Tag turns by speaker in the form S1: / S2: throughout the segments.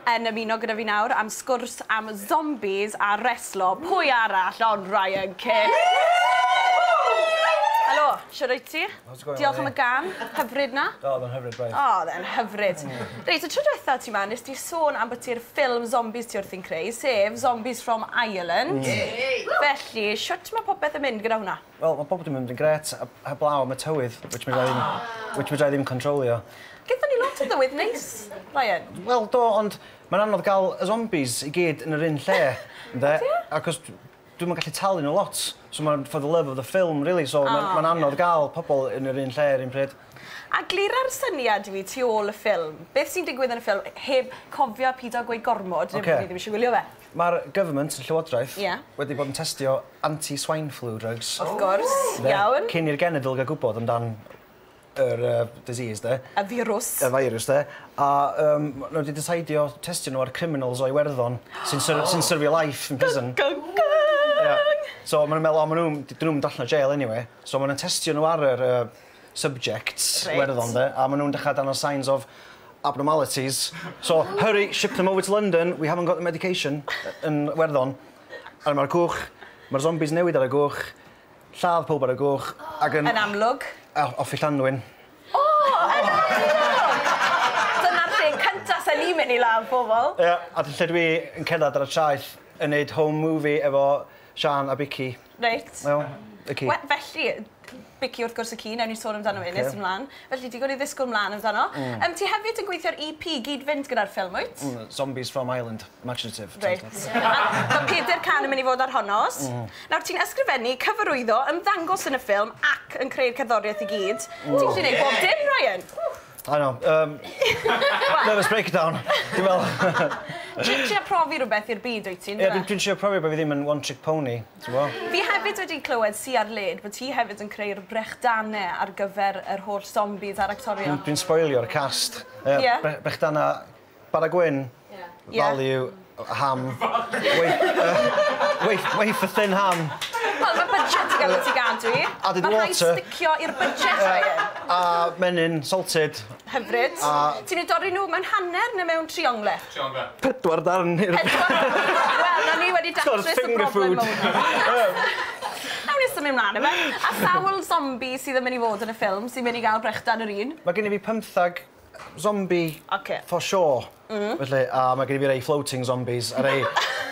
S1: yn ymuno gyda fi nawr am sgwrs am zombies a reslo, pwy arall ond Ryan Kent! Helo, shwd wyt ti? How's it going? Diolch am y gan, hyfryd na? O, oedd o'n hyfryd, braidd. O,
S2: oedd e'n hyfryd.
S1: Reit, y tro diwetha ti ma, nes di sôn am bod ti'r ffilm zombies ti wrthi'n creu, sef Zombies from Ireland. Felly, shwt ma' popeth yn mynd gyda hwnna? Wel ma' pob dim yn mynd yn
S2: grêt heb heblaw am y tywydd which fedrai ddim... O! ...which fedrai ddim controlio. Gethon ni lot o
S1: ddywydd neis, Ryan. Wel do ond
S2: ma'n anodd ga'l y zombies i gyd yn yr un lle ynde? O ie? Acos dw- dwi'm yn gallu talu n'w lot so ma'n for the love of the film rili so ma'n... O ie. ...ma'n anodd ga'l pobol yn yr un lle yr un pryd. A glira'r
S1: syniad i fi tu ôl y ffilm beth sy'n digwydd yn y ffilm heb cofio pido gweud gormod... Oce. ...neb yn ni ddim isie gwylio fe. Mae'r government,
S2: llywodraeth... Ie. ...wedi bod yn testio anti swine flu drugs... Of course,
S1: iawn. ...cyn i'r genedl gael
S2: gwybod amdan yr yy disease 'de. Y firws. Y
S1: feirws 'de.
S2: A yym ma' nhw 'di diseidio testio nhw ar criminals o Iwerddon sy'n sy- sy'n syrfio life yn prison. Gung gung gung! Ie. So ma' nhw'n meddwl o ma' nhw'm d- 'dyn nhw'm yn dod allan o jêl eniwe. So ma' nhw'n testio nhw ar yr yy subjects Iwerddon de a ma' nhw'n dechra dangos signs of abnormalities so hurry ship them over to London we haven't got the medication yn Iwerddon a ma'r cwch ma'r zombies newid ar y gwch lladd pawb ar y gwch ag yn... Yn amlwg.
S1: A off i Llanddwyn.
S2: O!
S1: Yn amlwg! Dyna'r lle cynta sa ni'n mynd i ladd pobl. Ia a lle dwi
S2: yn cerddad ar y traeth yn neud home movie efo Siân a Bicci. Reit. Wel,
S1: y ci.
S2: Wel, felly,
S1: Bicci wrth gwrs y ci, newn ni sôn amdano fe nes ti mlan. Felly, digon i ddisgwyl mlan amdano. Yym, ti hefyd yn gweithio ar EP gyd-fynd gyda'r ffilm, wyt? Mm, Zombies from Ireland,
S2: imaginative. Reit.
S1: Mae pedair can yn mynd i fod ar honno. Nawr, ti'n ysgrifennu, cyfarwyddo, ymddangos yn y ffilm ac yn creu'r cerddoriaeth i gyd. Ti'n gallu neud bob dim, Ryan! I
S2: know, um, nervous breakdown, dwi'n meddwl. Dwi'n trio
S1: profi rhywbeth i'r byd, wyt ti? Ie, dwi'n dwi'n trio profi rhywbeth, fi ddim
S2: yn one trick pony, ti'n gwybod? Fi hefyd
S1: wedi clywed, sy ar led, bod ti hefyd yn creu'r brechdanau ar gyfer yr holl zombies a'r actorion. Dwi'n dwi'n sboilio'r cast.
S2: Ie. Ie. Bre- brechdanau Bara gwyn. Ie. Value yy ham. Waf- yy wafer thin ham. Wel ma' budget
S1: yn ga'l 'i tŷ-gadw i. Added water. Ma' rhai' sticio i'r budget Ryan. A menyn
S2: salted. Hyfryd. A...
S1: Ti'n eu dorri nhw mewn hanner ne' mewn triongle? Triongle. Pedwar
S3: darn i'r...
S2: Pedwar
S1: Wel nawn ni wedi datrys y broblem mowr. Sort of finger food. Nawn ni symud mlan yfe? A sawl zombi sydd yn myn' i fod yn y ffilm sy myn' i ga'l brechdan yr un? Ma' gynno fi pymthag
S2: zombie... Ocê. ...for sure. M-hm. Felly a ma' gen i fi rei floating zombies a rei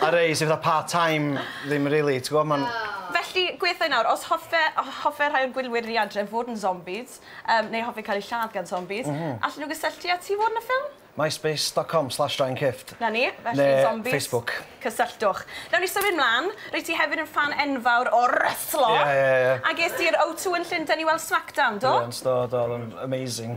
S2: a rei sy fatha part time ddim rili ti gwbo ma'n... O! Felly gwethai
S1: nawr os hoffe o- hoffe rhai o'r gwylwyr ni adre fod yn zombies yym neu hoffi cael eu lladd gan zombies... M-hm. ...allen nhw gysylltu â ti i fod yn y ffilm? Myspace dot com slash
S2: Ryan Kifft. 'Na ni felly...
S1: Ne' ...zombies... Facebook. ...cysylltwch. Nawn ni symud mlan. Rwyt ti hefyd yn ffan enfawr o restlo. Ie ie ie. A ges di'r O2 yn Llundain i weld Smackdown do? Brilliant do do o'dd o'n
S2: amazing.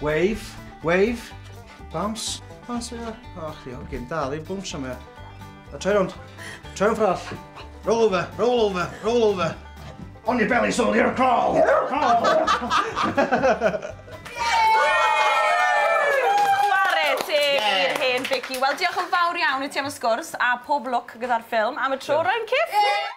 S2: Wave, wave, bounce, bounce, ia. O, chdi, hogyn, dal i bwns am ia. A troi rownd, troi rownd ffrall. Roll over, roll over, roll over. On your belly, soldier, crawl! Crawl! Chwarae
S1: teg i'r hen Vicky. Wel, diolch yn fawr iawn i ti am y sgwrs a pob lwc gyda'r ffilm am y tro, rwy'n cip!